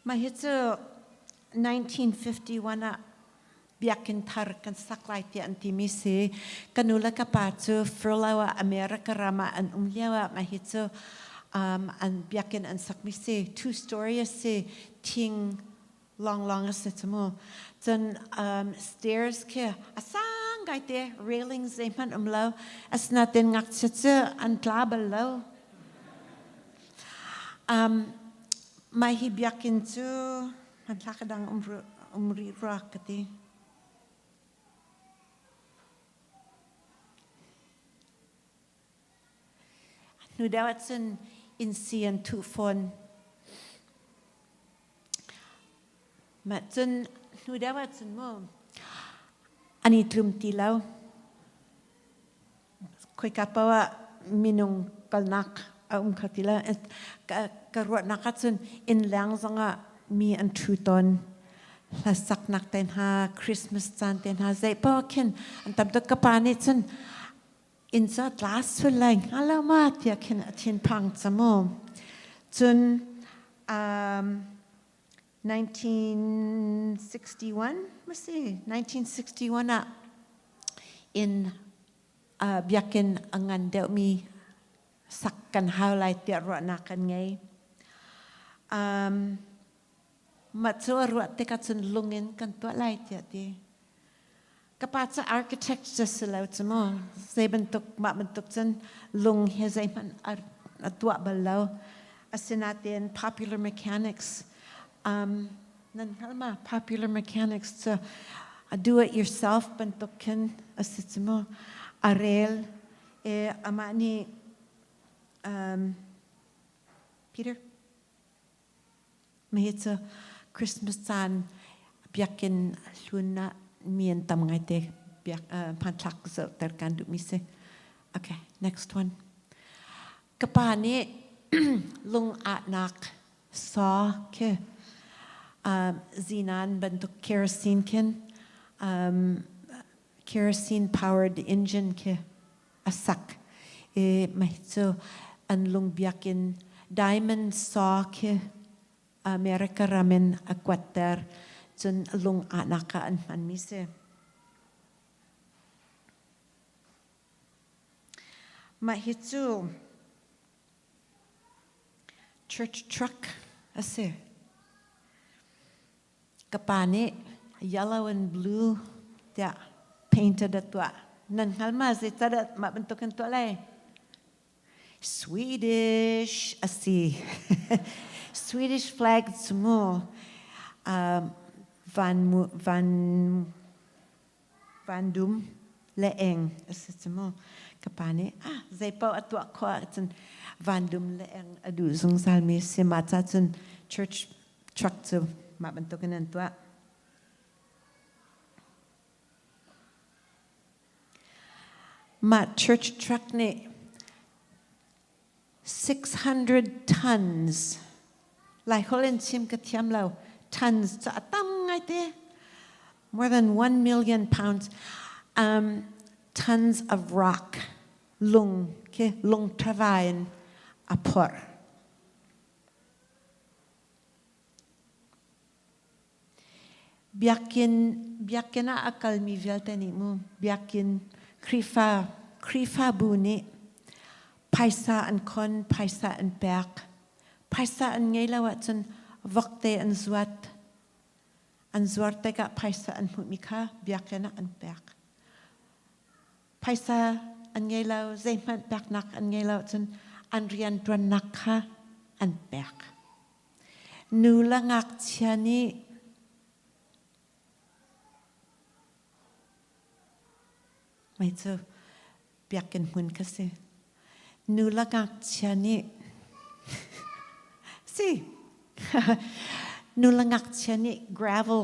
Mah hi cu 1951 ah Biakinn thar kan sak lai tiah an timi si. Ka nu le ka pa cu furlough ah America ram ah an um lio ah mah hi cu um, an biakinn an sakmi si. Two-story a si. Thing Lawnglawng a si mu. Cun um, stairs khi a sang gai te railings ei hmanh um lo. Asinain ngakchia cu an tla bal lo. Um, mai hi biakinn cu hmanthlak dang um, ru- um rih rua ka ti. Hnu deuh ah cun innsi an thuh fawn. Mah cun hnu deuh ah cun mu an i tlum ti lo. Khoika paoh ah minung kalnak a um kho ti lo. Ka ruahnak ah cun innleng zong ah mi an ṭhu tawn. Hlasaknak te hna, Christmas caan te hna zeipoah khin an tam tuk. Ka pa nih cun in ca tla sul lai hnga lo ma tiah khin a thinphang camu cun um, 1961 masi 1961 ah in uh, biakin a ngan deuhmi sak kan hau lai tiah ruahnak kan ngei um, Mah cu a ruah tikah cun lung in kan tuah lai tiah ti. Ka pa cu architect si si lo cu maw. Zei bantuk, mah bantuk cun lung hi zeihmanh a, a tuah bal lo. Asinain popular mechanics, um, nan hngalh ma? Popular mechanics cu a do it yourself bantuk khin a si cu maw. A rel i amah nih, um, Peter, Mei cu Christmas caan biakinn hlun ah mi an tam ngaite biak hmanthlak zohter kaan duhmi si. Okay, next one. Ka pa nih lungahnak saw khi zinan bantuk kerosene khin kerosene powered engine khi a sak i mah cu an lung biakin diamond saw khi America ram in a kuatter cun lung ahnak ah an hmanmi si. Mah hi cu church truck a si. ka pa nih yellow and blue tiah painted a tuah. Nan hngal ma zeicadah mah bantuk hin tuah lai? Swedish a si. Swedish flag cu mu. Um, van mu, van Van dum le eng a si cu mu. Ka pa nih, ah, zeipaoh a tuah khawh ahcun van dum le eng a duh zungzalmi si. Mah ca cun church truck cu mah bantukin an tuah. Mah church truck nih 600 tons lai holh in chim ka thiam lo tons ca tam ngaite more than 1 million pounds um, tons of rock lung ke lung thavain a phor Biakinn ah a kalmi vialte nih mu biakinn Khrihfa Khrihfabu nih phaisa an khon, phaisa an pek. Phaisa an ngei lo ahcun vok te an zuat. An zuar tikah phaisa an hmuhmi kha biakinn ah an pek. Phaisa an ngei lo, zeihmanh peknak an ngei lo ahcun an rianṭuannak kha an pek. Nu le ngakchia nih mei cu biakinn hmun kha si. Nu le ngakchia nih si. Nu le ngakchia nih gravel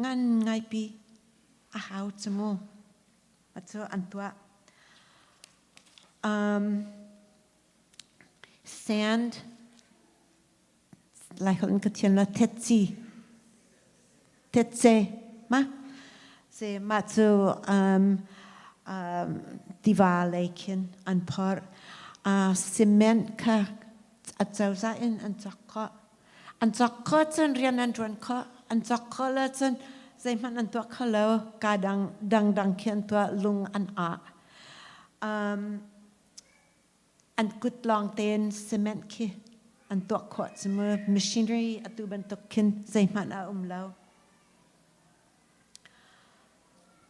ngan ngaipi a hau cu mu. A cu an tuah. Um, sand, lai holh in ka thiam lo, thetsi, thetse, ma? Se, ma cu um, um, tiva lei khin an phorh. Uh, cement kha a cozah in an cawk khawh. An cok kho cun rian an ṭuan khawh. An cok kho lo cun zeihmanh an tuah kho lo. Kaa dang dangdang khi an tuah. Lung an ah. Um, an kut lawng tein cement khi an tuah khawh cu mu. Machinery atu bantuk khin zeihmanh a um lo.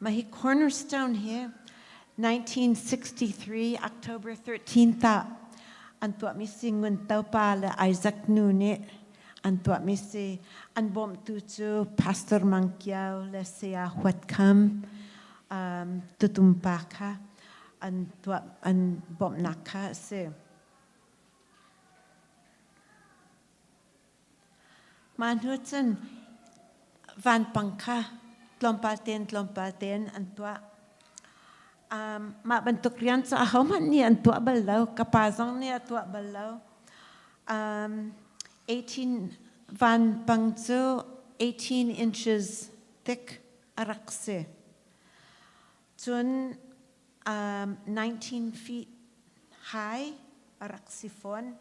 Mah hi Cornerstone hi 1963 October 13 tah an tuahmi si Ngun To Pa le Isaac Nu nih an tuahmi si an bawmhtu cu Pastor Mang Kio le Saya Huat Kham um, tutum pa kha an tuah an bawmhnak kha a si. Mah hnu cun vanpang kha tlawmpal tein tlawmpal tein an tuah. Um mah bantuk rian cu ahohmanh nih an tuah bal lo. Ka pa zong nih a tuah bal lo. Um eighteen vanpang cu eighteen inches thick a rak si. Cun um nineteen feet high a rak si fawn.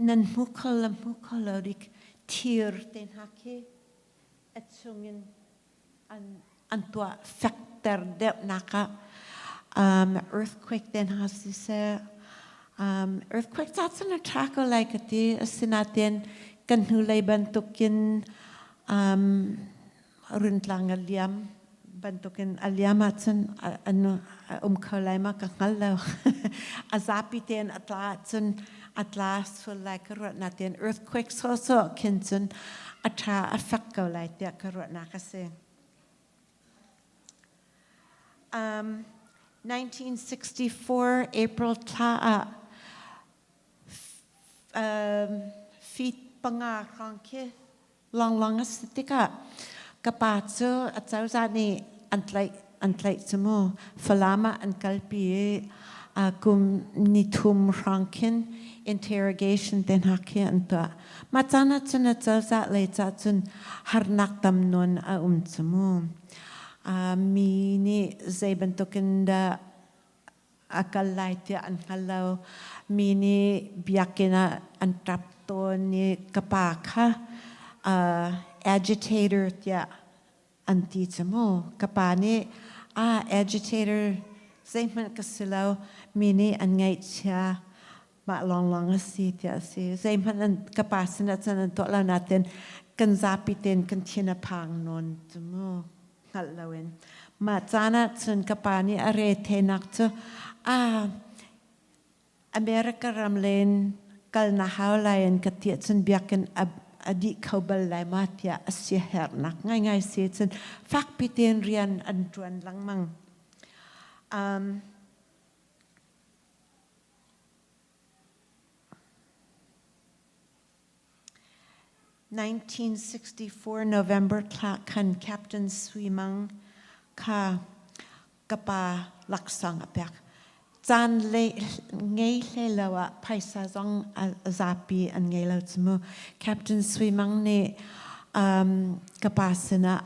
nan hmu kho le hmu kho lo rik thir te hna khi a chungin an tuah fekter deuh nak ah earthquake te hna siseh earthquake ca cun a ṭha ko lai ka ti asinain kan hnulei bantukin Runtlang a liam bantukin a liam ahcun a um kho lai ma ka hngal lo. a zapi tein a tla ahcun a tla sual lai ka ruah na tein earthquake sawsawh khin cun a tha a fek ko lai tiah ka ruahna ka si. Um, 1964 April thla ah um, feet panga hrang khi Lawnglawng a si tikah ka pa cu a cozah nih an tlaih an tlaih cu mu Falam ah an kalpi i a kum ni thum hrawng khin interrogation te hna khi an tuah mah caan ah cun a cozah lei cah cun harnak tam nuan a um cu mu a mi nih zei bantuk in dah a kal lai tiah an hngal lo. Mi nih biakinn ah an ṭap tawn i ka pa kha uh, agitator tiah an ti cu mu. Ka pa nih, ah, agitator zeihmanh ka si lo, mi nih an ngaihchia, Mah lawnglawng a si tiah a si. Zeihmanh an, ka pa sinah cun an tuah lo nain kan zapi tein kan thin a phang nawn cu mu hngalh loin. Mah caan ah cun ka pa nih a re thenak cu ah America ram len kal na hau lai an ka ti ahcun biakinn a, a dih kho bal lai ma tiah a siaherhnak ngaingai si cun fakpi tein rian an ṭuan lengmang. Um, 1964 November thla khan Captain Sui Mang kha ka pa laksang a pek. Caan le ngei hle lo ah phaisa zong a zapi an ngei lo cumu. Captain Sui Mang nih um, ka pa sinah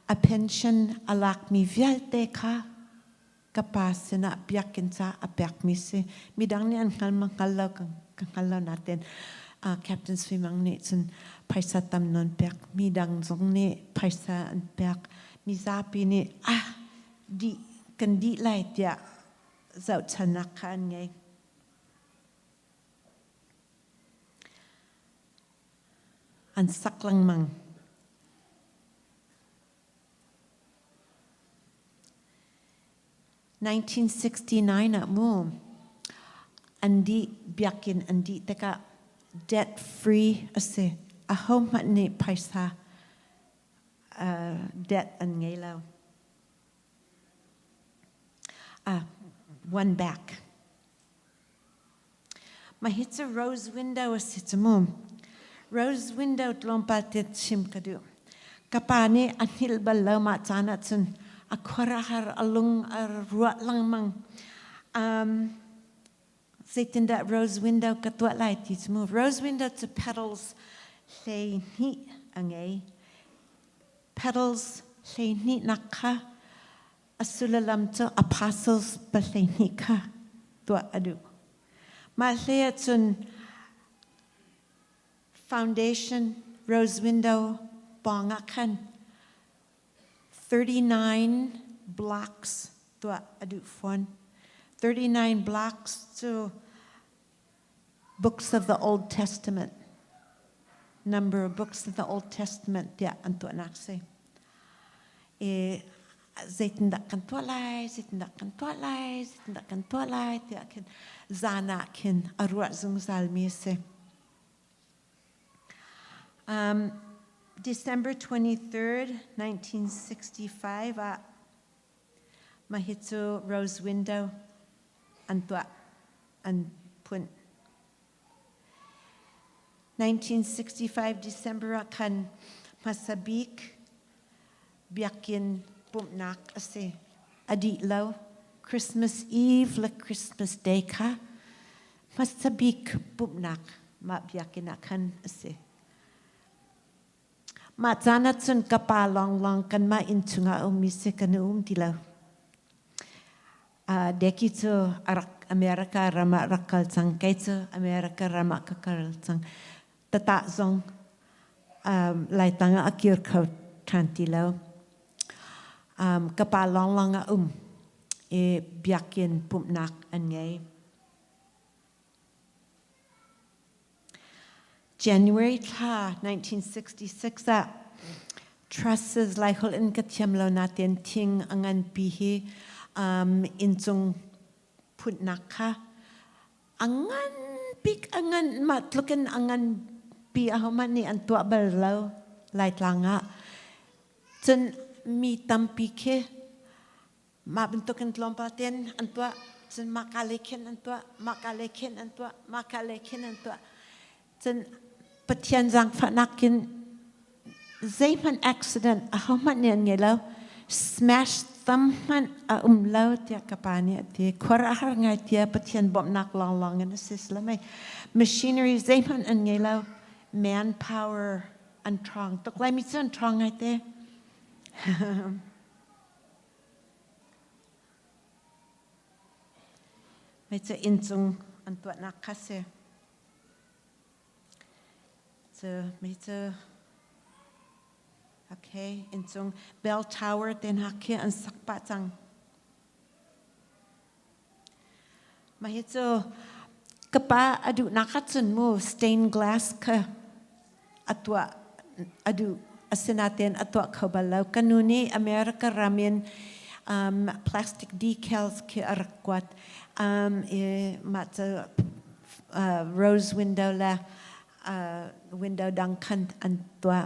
a pension a lakmi vialte kha ka pa sinah biakinn ca a pekmi si. Midang nih an hngal ma hngal lo ka, ka hngal lo natein uh, Captain Swimang nih cun phaisa tam nawn pek. Midang zong nih phaisa an pek. Mizapi nih ah dih kan dih lai tiah zohchannak kha an ngei. An sak lengmang. 1969 ah mu an dih biakinn an dih tikah debt free a si ahohmanh nih phaisa debt an ngei lo one back Mahi cu rose window a si cu mu. Rose window tlawmpal te chim ka duh. Ka pa nih a hnil bal lo mah caan ahcun a khuarahar a lung a ruah lengmang. Um, zeitindah rose window ka tuah lai ti cu mu. Rose window cu petals hleihnih a ngei. Petals hleihnih nak kha A sullam cu apostles pahleihnih kha tuah a duh. Mah hleiah cun foundation rose window pawngah khan 39 blocks tuah a duh fawn. 39 blocks cu Books of the Old Testament number of books of the Old Testament tiah an tuahnak si. E, zeitindah kan tuah lai, zeitindah kan tuah lai, zeitindah kan tuah lai tiah khin zan ah khin a ruah zungzalmi si. Um, December 23rd, 1965 ah Mah hi cu rose window an tuah an phun. 1965 December ah khan hmasa bik biakinn pumhnak a si. A dih lo. Christmas Eve le Christmas Day kha hmasa bik pumhnak mah biakinn ah khan a si. Mah caan ah cun ka pa lawnglawng kanmah inn chungah a ummi si ka nu um ti lo. Uh, Deki cu a rak America ram ah rak kal cang. Kei cu America ram ah ka kal cang. Tatah zong um, lai tang ah a kir kho ṭhan ti lo. Um, ka pa lawnglawng a um i biakinn pumhnak an ngei. January thla 1966 ah trusses lai holh in ka thiam lo naten thing a nganpi hi um, incung phutnak kha a ngan bik a ngan ma tlukin a ngan pi a homa nih an tuah bal lo lai tlang ah cun mi tampi khi Mah bantukin tlawmpal tein an tuah. Cun mahka lei khin an tuah, mahka lei khin an tuah, mahka lei khin an tuah. Cun Pathian zangfahnak in zeihmanh accident ahohmanh nih an ngei lo. Smash thumb hmanh a um lo tiah ka pa nih a ti. Khuar a har ngai tiah Pathian bawmhnak lawnglawng in a si sila mei. Machinery zeihmanh an ngei lo. Manpower an ṭhawng tuk. Laimi cu an ṭhawng ngaite. Meicu inn cung an tuahnak kha si. Cu meicu Okay, in cung bell tower te hna khi an sak pah cang. Mah hi cu ka pa a duhnak ahcun mu stained glass kha a tuah a duh asinain a tuah kho bal lo. Ka nu nih America ram in um plastic decals khi a rak kuat. Um i mah cu uh rose window le uh window dang khan an tuah.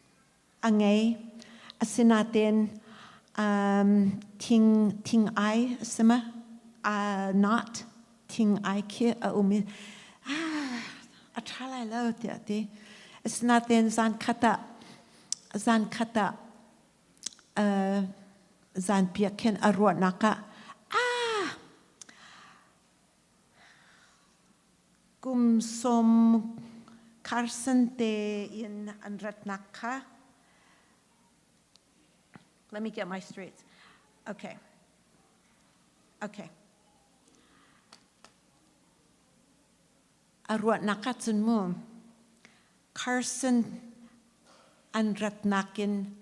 a ngei. Asinain thing-ai a si ma? Knot, thing-ai khi a um i a ṭha lai lo tiah a ti. Asinain zankhat ah zanpi ah khin a ruahnak ah Kum sawm khar san tein an ratnak kha let me get my straight. Okay. Okay. A ruahnak ahcun mu Carson an ratnak in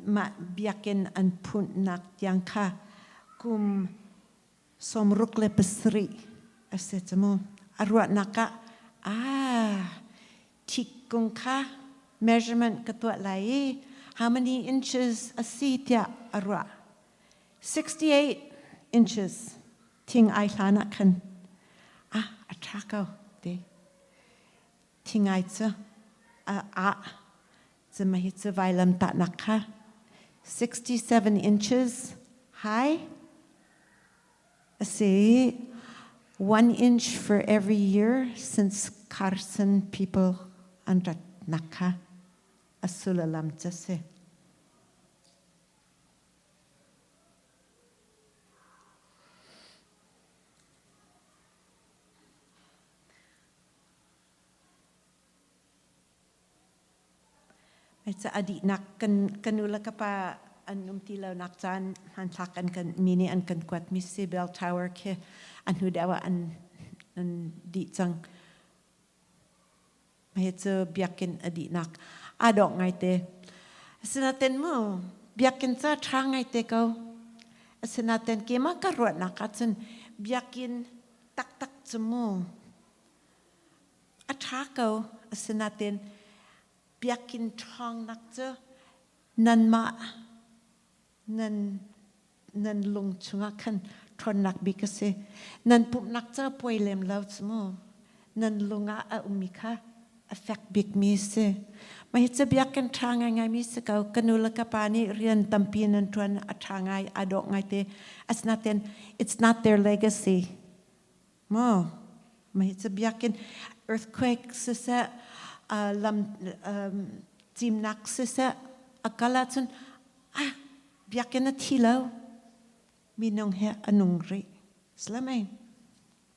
mah biakin an phunhnak tiang kha kum sawmruk le pasarih a si cu mu. A ruahnak ah, aa, thikkung kha measurement ka tuah lai i how many inches a si tiah a ruah. 68 inches thing ai hlan ah khan, ah, a tha ko ti. Thingai cu a ah cu mei cu vailam tahnak kha 67 inches high a si i one inch for every year since Carson people an ratnak kha a sullam cu a si. Ca a dihnak kan u le ka pa an um ti lonak caan hmanthlak mi nih an kan kuat mi si bell tower khi a hnu deuh ah an dih cang. Hi cu biakinn a dihnak aa dawh ngaite. Asinaten mu biakinn ca ṭha ngaite ko. Asinaten keimah ka ruahnak ahcun biakinn taktak cu mu A ṭha ko. Asinain biakinn ṭhawngnak cu nanmah nan, nan lung chungah khan ṭhawnnak bik a si. Nan pumhnak cu a puai lem lo cu mu. Nan lungah a ummi kha a fek bikmi a si. Mah hi cu biakinn ṭha ngaingaimi si ko. Ka nu le ka pa nih rian tampi nan ṭuan, a ṭha ngai, aa dawh ngaite. Asinain it's not their legacy. Maw, mahhi cu biakinn earthquake siseh, aa lam um, cimnak siseh, a kal ahcun ah biakinn a thi lo. Minung hi a nung rih. Slam ei.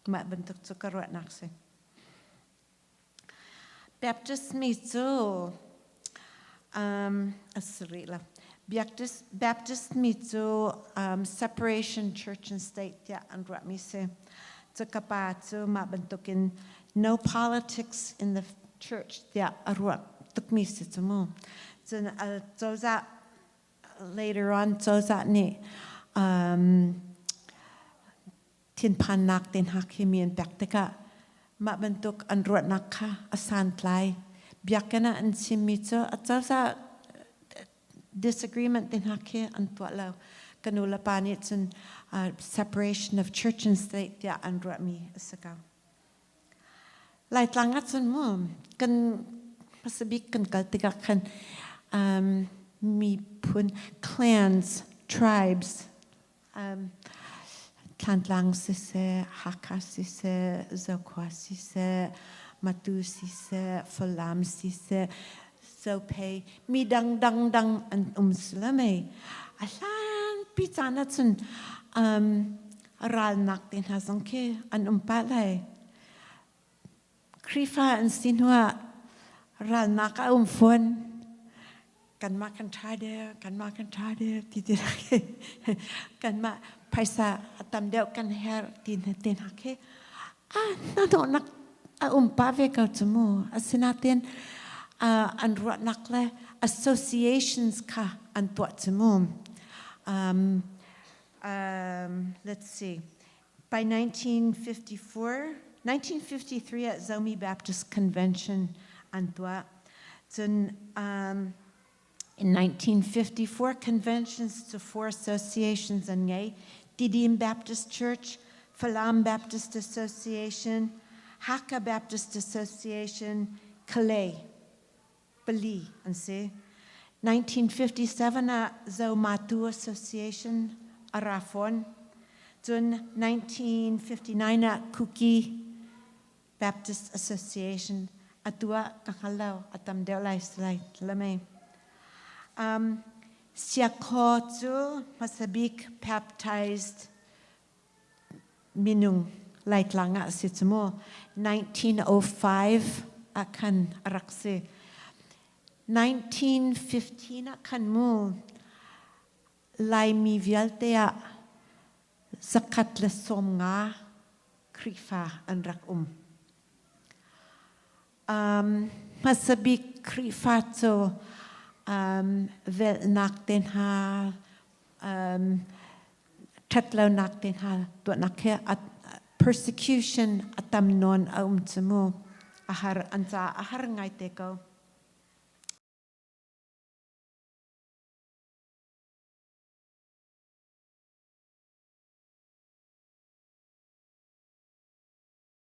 Mah bantuk cu ka ruahnak si. Baptist mi cu um, a si rih lo. Baptist, Baptist mi cu um, Separation Church and State tiah an ruahmi si. Cu ka pa cu mah bantukin no politics in the church tiah a ruah tukmi si cu mu. Cun uh, cozah, later on cozah nih um, Thinphannak te hna khi mi an pek tikah mah bantuk an ruahnak kha a santlai. Biakinn ah an chimmi cu a cozah disagreement te hna khi an tuah lo. Ka nu le pa nih cun separation of church and state tiah an ruahmi a si ko. Laitlang ah cun mu kan hmasa bik kan kal tikah khan miphun, clans, tribes Thlantlang siseh, Hakha siseh, Zokhua siseh, Matu siseh, Falam siseh, Sopei, mi dang dang dang an um sila mei. A hlan pi caan ahcun ralnak te hna zong khi an um pah lai. Khrihfa an si hnuah ralnak a um fawn. Kanmah kan ṭha deuh, kanmah kan ṭha deuh ti ti nak hi kanmah phaisa a tam deuh kan herh ti na te nak hi a hnahnawhnak a um pah ve ko cu mu. Asinain uh, an ruahnak le associations kha an tuah cu mu. Um, um, let's see. By 1954, 1953 ah Zomi Baptist Convention an tuah. Cun um, in 1954 conventions to four associations an ngei. Tidim Baptist Church, Falam Baptist Association, Haka Baptist Association, Kalay. pali an si. Nineteen fifty seven ah Zo Matu Association a ra fawn. Cun nineteen fifty nine ah Kuki Baptist Association atu ah ka hngal lo, a tam deuh lai si lai ti le mei. Um, Siakhaw cu hmasa bik baptized minung Laitlang ah si cu mu 1905 ah khan a rak si 1915 ah khan mu Laimi vialte ah zakhat le sawm nga Khrihfa an rak um Um, hmasabik Khrihfa cu um, velhnak te hna um, ṭhatlonak te hna tuahnak hi a, persecution a tam nawn a um cu mu a har an ca a har ngai te ko